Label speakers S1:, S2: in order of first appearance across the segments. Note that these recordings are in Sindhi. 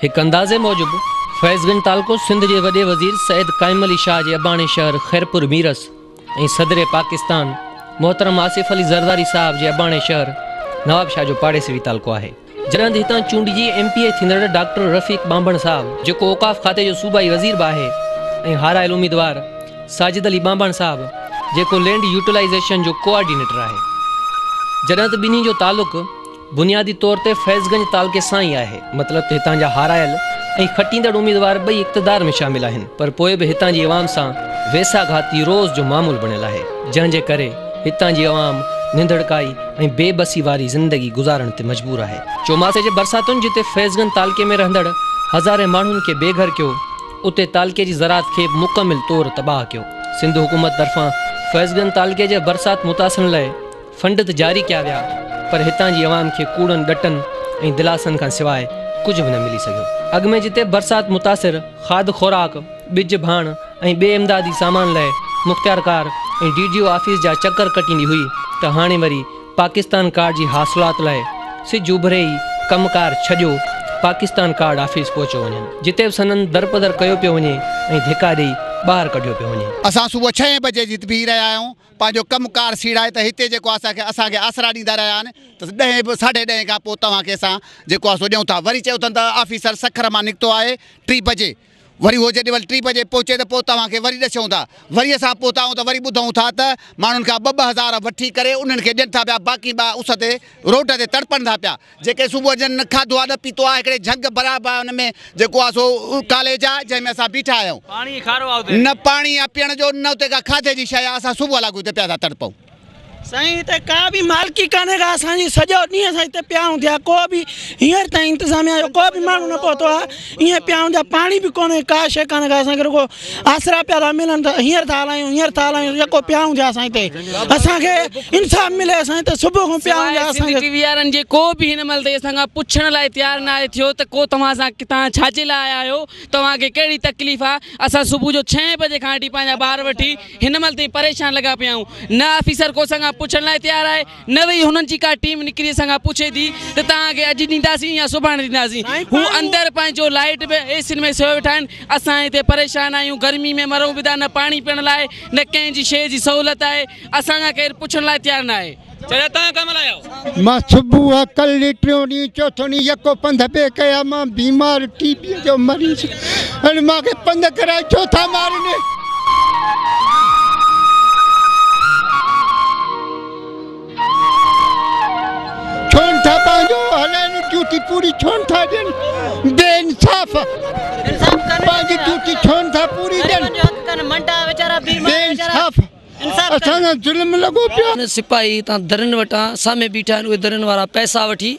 S1: هڪ اندازي موجب فيض گنج تعلقو سنڌ جي وڏي وزير سيد قائم علي شاهه جي اباڻي شهر خيرپور ميرس ۽ صدر پاڪستان محترم آصف علي زرداري صاحب جي اباڻي شهر نوابشاهه جو پاڙيسري تعلقو آهي. جڏهن ته هتان چونڊجي ايم پي اي ٿيندڙ ڊاڪٽر رفيق ٻانڀڻ صاحب جيڪو اوقاف کاتي جو صوبائي وزير به آهي ۽ هارايل اميدوار ساجد علي ٻانڀڻ صاحب جيڪو لينڊ يوٽيلائيزيشن جو ڪوآرڊينيٽر آهي جڏهن ته ٻنهي جو تعلق بنيادي طور تي فيض گنج تعلقي سان ئي آهي، مطلب ته هتان جا هارايل ۽ کٽيندڙ اميدوار ٻئي اقتدار ۾ شامل آهن پر پوء به هتان جي عوام سان ويساهه گهاتي روز جو معمول بڻيل آهي جنهن جي ڪري هتان جي عوام ننڌڙڪائي ۽ بي بسي واري زندگي گذارڻ تي مجبور آهي. چوماسي جي برساتن جتي فيض گنج تعلقي ۾ رهندڙ هزارين ماڻهن کي بي گهر ڪيو اتي تعلقي جي زراعت کي به مڪمل طور تباهه ڪيو سنڌ حڪومت طرفان فيض گنج تعلقي جي برسات متاثرن لئه فنڊ ته جاري ڪيا ويا پر هتان جي عوام کي ڪوڙن ڏٽن ۽ دلاسن کان سواء ڪجهه به نه ملي سگهيو. اڳ ۾ جتي برسات متاثر کاڌ خوراڪ، ٻج ڀاڻ ۽ ٻئي امدادي سامان لئه مختيارڪار ۽ ڊي ڊي او آفيس جا چڪر ڪٽيندي هئي ته هاڻي وري پاڪستان ڪارڊ جي حاصلات لئه سج اڀري ئي ڪم ڪار ڇڏيو پاڪستان ڪارڊ آفيس پهچيو وڃن جتي به سندن درپدر ڪيو پيو وڃي ۽ ڌڪا ڏئي ٻاهر ڪڍيو پيو وڃي. اسان صبح ڇهين بجي
S2: جي تي بيهي رهيا آهيون پنهنجو ڪم ڪار سيڙائي ته هتي جيڪو آهي سا اسان کي آسرا ڏيندا رهيا آهن ته ڏهين به ساڍي ڏهين کان پوء توهان کي اسان جيڪو آهي سو ڏيون ٿا وري چيو اٿن ته آفيسر سکر مان نڪتو آهي ٽي بجي وري هو جڏهن مهل ٽي بجي پهچي ته پوء توهان کي وري ڏسيون ٿا وري اسان پهتا آهيون ته وري ٻڌون ٿا ته ماڻهن کان ٻه ٻه هزار وٺي ڪري انهن کي ڏين ٿا پيا باقي ٻيا اس تي روڊ تي تڙپن ٿا پيا جيڪي صبح جن نه کاڌو آ نه پيتو آ هڪڙي جهڳ برابر آ ان ۾ جيڪو آ سو ڪاليج آ جنهن ۾ اسان بيٺا آهيون پاڻي ئي کارو آ اتي نه پاڻي آ پيئڻ جو نه اتي ڪا کاڌي جي شئي آ اسان صبح لاڳو اتي پيا ٿا تڙپون. سائين هتي
S3: ڪا به مالڪي ڪانهي ڪا اسان جي سڄو ڏينهن اسان هتي پيا آهيون ٿيا ڪو به هينئر تائين انتظاميا جو ڪو به ماڻهو نه پهتو آ. ايئن پيا آهيون جا پاڻي به ڪونهي ڪا شيء ڪانهي اسان کي رڳو آسرا پيا ٿا ملن ته هينئر ٿا هلايون هينئر ٿا هلايون يڪو پيا آهيون جا اسان هتي اسان کي انصاف ملي اسان هتي صبح کان پيا آهيون جا اسان کي سنڌي ٽي وي وارن جي ڪو به
S4: هن مهل تائين اسان کان پڇڻ لاء تيار ناهي ٿيو ته ڪو توهان سان توهان ڇا جي لاء آيا آهيو توهان کي ڪهڙي تڪليف آهي اسان صبح جو ڇهين بجي کان وٺي پنهنجا ٻار وٺي هن مهل تائين پريشان لڳا پيا آهيون نه آفيسر ڪو اسان کان پڇڻ لاء تيار آهي نه ويئي هنن جي ڪا ٽيم نڪري اسان کان پڇي ٿي ته توهان کي اڄ ڏينداسين يا سڀاڻي ڏينداسين هو اندر پنهنجو لائيٽ به اي سين ۾ سيو ويٺا آهن اسان هتي پريشان آهيون گرمي ۾ مرون به ٿا نه پاڻي پيئڻ لاء نه ڪنهن جي شيء جي سهولت آهي اسان کان ڪير پڇڻ لاء تيار نه آهي. چاچا توهان ڪنهن مهل آيا آهيو.
S5: مان صبح ڪل ٽيون ڏينهن چوٿون ڏينهن يڪو پنڌ پئي ڪيا مان بيمار ٽي بي جو مريض هن مان کي پنڌ ڪرائي چوٿا مارني. ڇونٺا پنهنجو هلائن ڊيوٽي پوري ڇونٺا ڏين بي انصاف پنهنجي ڊيوٽي ڇونٺا پوري ڏين بي انصاف اسان سان ظلم لڳو پيو سپاهي هتان درن
S6: وٽان سامهين بيٺا آهن اهي درن وارا پئسا وٺي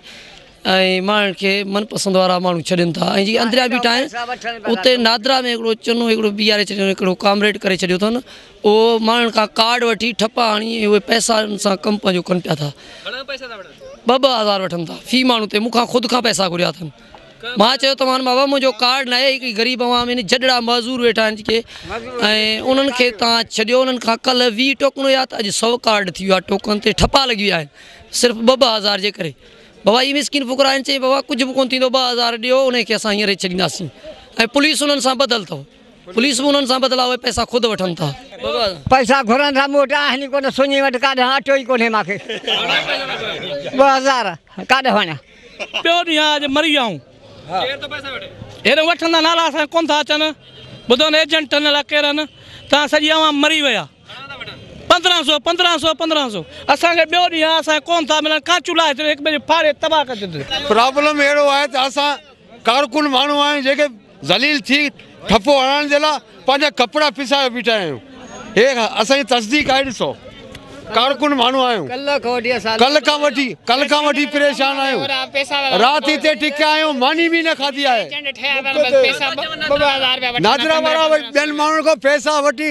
S6: ۽ ماڻهن کي من پسند وارا ماڻهو ڇڏين ٿا ۽ جي اندريا بيٺا آهن اتي نادرا ۾ هڪڙو چنو هڪڙو بيهاري ڇڏيو هڪڙو ڪامريڊ ڪري ڇڏيو اٿن اهو ماڻهن کان ڪارڊ وٺي ٺپا هڻي ۽ اهي پئسا ان سان ڪم پنهنجو ڪن پيا ٿا گهڻا پئسا ٿا وٺن ٻه ٻه هزار وٺن ٿا في ماڻهو تي مون کان خود کان پئسا گهريا اٿن مان چيو ته مان بابا منهنجو ڪارڊ ناهي هڪڙي غريب عوام ان جڏڙا معذور ويٺا آهن جيڪي ۽ انهن کي تان ڇڏيو انهن کان ڪل وي ٽوڪن هيا ته اڄ سو ڪارڊ ٿي ويا ٽوڪن تي ٺپا لڳي ويا آهن صرف ٻه ٻه هزار جي ڪري بابا اهي مسڪين فقرا آهن چيائين بابا ڪجهه به ڪونه ٿيندو ٻه هزار ڏيو انهي کي اسان هينئر ئي ڇڏينداسين ۽ پوليس انهن سان ٻڌل اٿو پوليس به انهن سان ٻڌل آ اهي پئسا خود وٺن ٿا. پئسا گهرن
S7: ٿا مون وٽ آهن ئي ڪونه سڃي وٽ ڪاڏانهن اٽو ئي ڪونهي مان کي ٻه هزار ڪاڏي وڃان. ٻيو ڏينهن آ
S3: اڄ مري آئون ڪير ٿو پئسا وٺي هيڏانهن وٺندا نالا اسان کي ڪونه ٿا اچن ٻڌو نه ايجنٽن الاء ڪيرن تان سڄي عوام مري وئي آ. پندرهن سو پندرهن سو پندرهن سو اسان کي ٻيو ڏينهن آ اسان کي ڪون ٿا ملن ڪا چولها هتي هڪ ٻئي کي ڦاڙي تباهه ڪري ڇڏينديون. پرابلم اهڙو آهي ته
S5: اسان ڪارڪن ماڻهو آهيون جيڪي ذليل ٿي ٺپو هڻڻ جي لاء پنهنجا ڪپڙا پسائي بيٺا آهيون هي اسان جي تصديق آهي ڏسو ڪارڪن ماڻهو آهيون ڪل کان وٺي ڪل کان وٺي پريشان آهيون رات هتي ٽڪيا آهيون ماني به نه کاڌي آهي نادرا وارا ٻين ماڻهن کان پئسا وٺي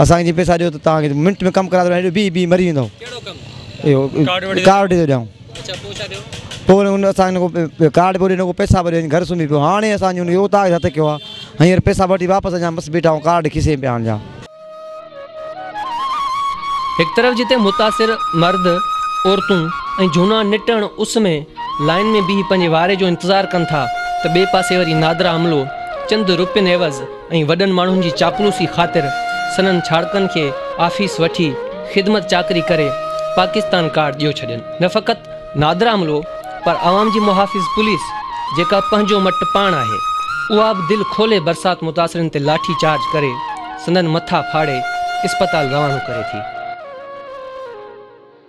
S1: اسان کي جي پيسا ڏيو ته
S8: توهان کي منٽ ۾ ڪم ڪرائي ٿو ڏيان هيڏو بيهي بيهي مري ويندو اهو
S1: ڪارڊ
S8: ڏيئي ٿو ڏيان
S1: پوء وري هن اسان کي
S8: ڪارڊ به ڏنو ڪو پيسا به ڏنو گهر سمهي پيو هاڻي اسان جي اهو تاج هٿ ڪيو آهي هينئر پيسا وٺي واپس اچان بس بيٺا آهيون ڪارڊ کيسي ۾ پيا آڻ جا
S1: هڪ طرف جتي متاثر مرد عورتون ۽ جهونا نٽهڻ اس ۾ لائين ۾ بيهي پنهنجي واري جو انتظار ڪن ٿا ته ٻئي پاسي وري نادرا عملو چند روپين عيوض ۽ وڏن ماڻهن جي چاپلوسي خاطر سندن ڇاڙڪن کي آفيس وٺي خدمت چاڪري ڪري پاڪستان ڪارڊ ڏيو ڇڏين نه فقط نادرا عملو پر عوام جي محافظ پوليس جيڪا پنهنجو مٽ پاڻ آهي اها به دل کولي برسات متاثرين تي لاٺي چارج ڪري سندن مٿا ڦاڙي اسپتال روانو ڪري ٿي.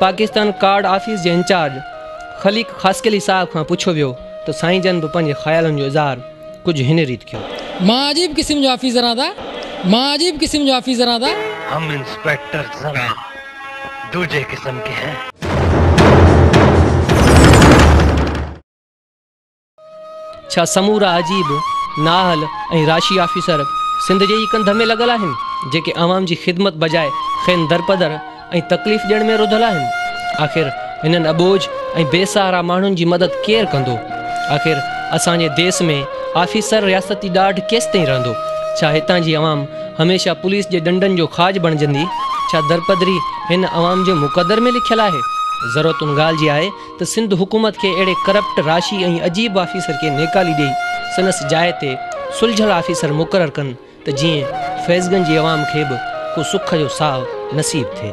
S1: پاڪستان ڪارڊ آفيس جي انچارج خليق خاصخيلي صاحب کان پڇيو ويو ته سائين جن به پنهنجي خيالن جو اظهار ڪجهه هن ريت ڪيو. مان عجيب قسم
S9: جو آفيسر آهيان ٿا مان عجيب قسم جو آفيسر آهيان ٿا. هم انسپيڪٽر
S10: ذرا دوجهي قسم ڪي هين.
S1: ڇا سمورا عجيب، نااهل ۽ راشي آفيسر سنڌ جي ئي ڪنڌ ۾ لڳل آهن، جيڪي عوام جي خدمت بجاء کين درپدر ۽ تڪليف ڏيڻ ۾ رڌل آهن؟ آخر هنن اٻوجهه ۽ بي سهارا ماڻهن جي مدد ڪير ڪندو؟ آخر اسان جي ديس ۾ آفيسر رياستي ڏاڍ ڪيستائين رهندو؟ ڇا هتان جي عوام هميشه پوليس جي ڏنڊن جو کاڄ بڻجندي؟ ڇا درپدري هن عوام جي مقدر ۾ لکيل آهي؟ ضرورت ان ڳالهه جي آهي ته سنڌ حڪومت کي اهڙي ڪرپٽ، راشي ۽ عجيب آفيسر کي نيڪالي ڏئي سندس جاء تي سلجهيل آفيسر مقرر ڪن ته جيئن فيض گنج جي عوام کي به ڪو سک جو ساهه نصيب ٿئي.